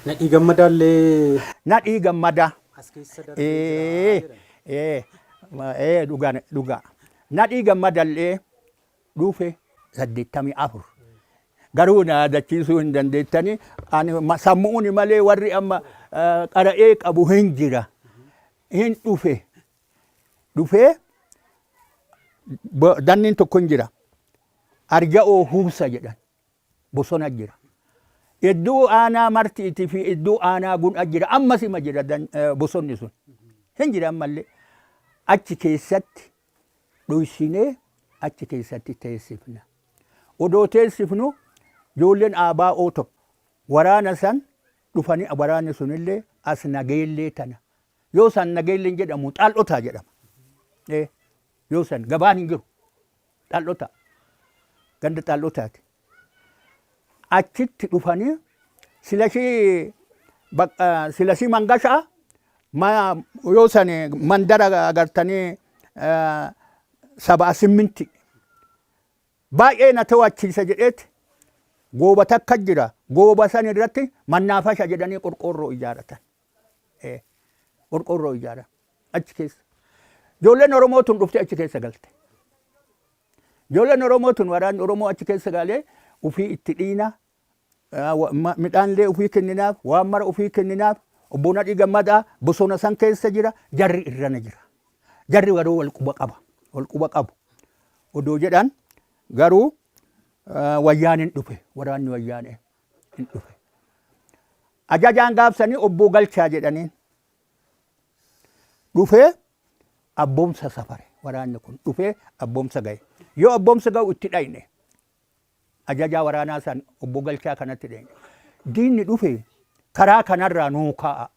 Nadhii Gammadaa illee. Nadhii Gammadaa. As keessa darbee jira jedhan. Ee ee dhugaa dhugaa. Nadhii Gammadaa illee dhufe saddeettamii afur. Garuu na yaadachiisuu hin dandeettanii ani sammu'uun malee warri amma qara'ee qabu hin jira. Hin dhufe. Dhufee danniin tokko hin jira. Arja'oo Huubsa jedhan. bosona jira. Iddoo aanaa martiiti fi iddoo aanaa gun'a jira. Ammas ima jira bosonni sun. Hin jira ammallee. Achi keessatti dhoysinee achi keessatti teessifna. Odoo teessifnu ijoolleen ABO tokko waraana san dhufanii waraanni sunillee as nageellee tana. Yoo san nageelleen jedhamu xaal'otaa jedhama. Yoo san gabaan hin jiru. Dhal'otaa. Ganda dhal'otaati. Achitti dhufanii silashii baq- eh, silashii mangashaa ma- yoo san mandara agartanii eh, sabaa simminti baay'ee na to'achiisa jedheeti gooba takka jira. Gooba san irratti mannaafasha jedhanii qorqoorroo ijaaratan. Ee. Qorqoorroo ijaara. Achi keessa. Ijoolleen Oromoo tun dhuftee achi keessa galte. Ijoolleen Oromoo tun waraanni Oromoo achi keessa galee ufii itti dhiina. ah, wa- ma- Midhaanillee ufii kenninaaf, waan mara ufii kenninaaf. Obbo Nadhii Gammadaa bosona san keessa jira, jarri irrana jira. Jarri garuu wal quba qaba. Wal quba qabu. Odoo jedhan garuu ah, wayyaaneen dhufe waraanni wayyaanee. hin dhufe. Ajajaan gaafsanii obboo galchaa jedhaniin. Dhufee abboomsa safare waraanni kun dhufee abboomsa ga'e. Yoo abboomsa ga'u itti dhayne ajajaa waraanaa san obboo galchaa kanatti dhayne. Diinni dhufe karaa kanarraa nuu ka'a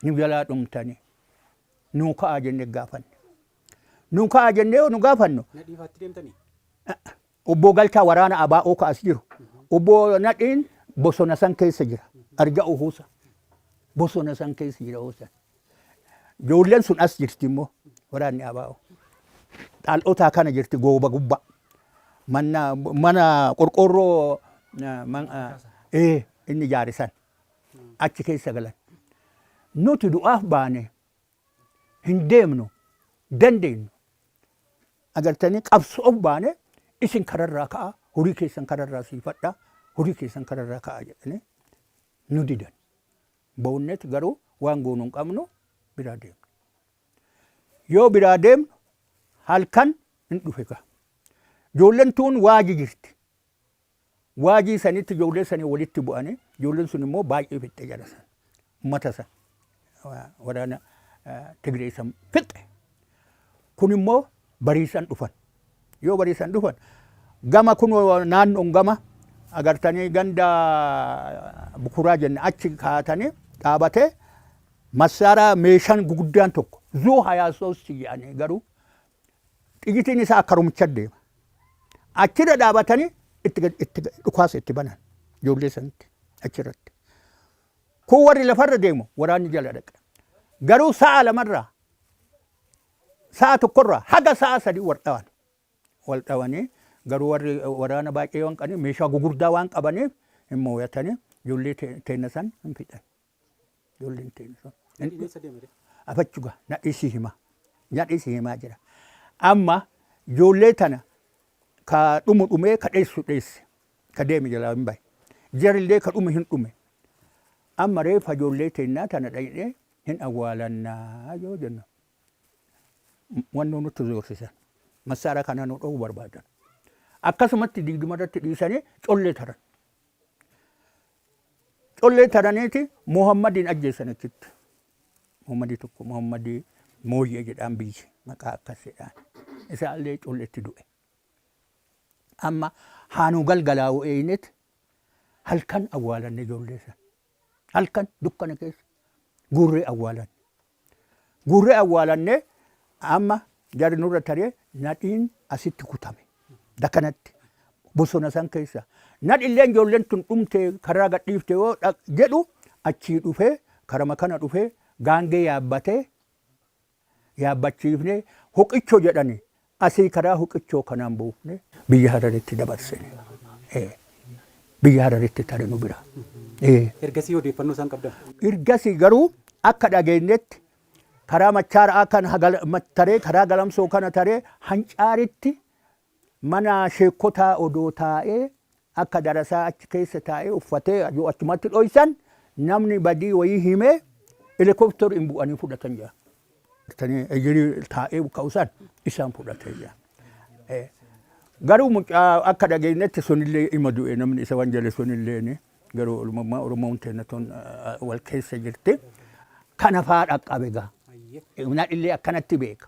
nu jalaa dhumtanii nuu ka'a jennee gaafanne. Nuu ka'a jennee yoo nu gaafannu. Na dhiifaatti deemtanii? Obboo Galchaa waraana ABO ka as jiru. Obboo Nadhiin bosona san keessa jira. Arja Uhuusa. Bosona san keessa jira yeroo san. Ijoolleen sun as jirti immoo waraanni ABO. Xaal'otaa kana jirti gooba gubba. Manna mana qorqoorroo eh, man- eh, ee, inni ijaare san achi keessa galan. Nuti du'aaf baane hin deemnu dandeenyu agartanii qabsoof baane isin kararraa ka'a horii keessan kararraa siifadha horii keessan kararraa ka'a jedhanii nu didan boonnet garuu waan goonu hin qabnu biraa deemne yoo biraa deemnu halkan hin dhufe gaa ijoolleen tuun waaji jirti Waajii sanitti ijoollee sanii walitti bu'anii ijoolleen sun immoo baay'ee fixxe jara san. Ummata san waraana Tigree san fixxe. Kun immoo bariisan dhufan. Yoo bariisan dhufan gama kun naannoon gama agartanii ganda bukuraa jenne achi kaatanii dhaabatee massaaraa meeshaan guguddaan tokko zuu hayaa soossi jedhanii garuu Xiyitiin isaa akkarumicha deema. Achirra dhaabatanii itti gad- itti gad- dhukaasa itti banan ijoollee sanitti achirratti. Kun warri lafarra deemu waraanni jala dhaqe. Garuu sa'a lamarraa sa'a tokkorraa haga sa'a sadii wal dhawan. Wal dhawanii garuu warri waraana baay'ee waan qabaniif meeshaa gugurdaa waan qabaniif hin mooyatanii ijoollee te- teenna san hin fixan. Ijoolleen teenya sun. Gadiin eessa deema jedhe? Afachu gaa na dhisi hima. Na dhisi himaa jira. Amma ijoollee tana ka dhumu dhumee ka dheessu dheesse. Ka deeme jalaa hin bahe. Jarillee ka dhume hin dhume. Amma reefa ijoollee teennaa tana dhaqnee hin awwaalannaa yoo jennu. Wannoo nutti zoorsisan. Massaara kana nu dhowwu barbaadan. Akkasumatti digduma irratti dhiisanii collee taran. Collee taraniiti Muhammadiin ajjeessan achitti. Muhammadii tokko Muhammadii Mooyyee jedhaan biyyi maqaa akkas jedhaan. Isaallee colleetti du'e. Amma haanuu galgalaa'u eeynet halkan awwaalanne ijoollee san. Halkan dukkana keessa guurree awwaalanne. Guurree awwaalannee amma jarri nurra taree nadhiin asitti kutame. Dakanatti bosona san keessa. Nadhilleen ijoolleen tun dhumtee karaa gadhiifte yoo jedhu achii dhufee karama kana dhufee gaangee yaabbatee yaabbachiifnee hoqicho jedhani Asii karaa Huqichoo kanaan buufnee biyya Hararitti dabarsine. Ee. Biyya Hararitti tare nu bira. Ee. Ergasii odeeffannoo isaan qabdan? Ergasii garuu akka dhageenyetti karaa Machaara'aa kana gal, mat, taree karaa Galamsoo kana taree Hancaaritti mana sheekkotaa odoo taa'ee Akka darasaa achi keessa taa'ee uffatee yoo achumatti dhoysan namni badii wayii himee helicopter in bu'anii fudhatan jedhan. Tanii ejirii taa'ee ka'u san isaan fudhatee jedhan. Eh, Garuu mucaa akka dhageenyetti sunillee ima du'e namni isa waan jale sunilleen garuu olumammaa Oromoon teenna tun ah, wal keessa jirti. Kana faa dhaqqabe gaa. Nadhillee akkanatti beeka.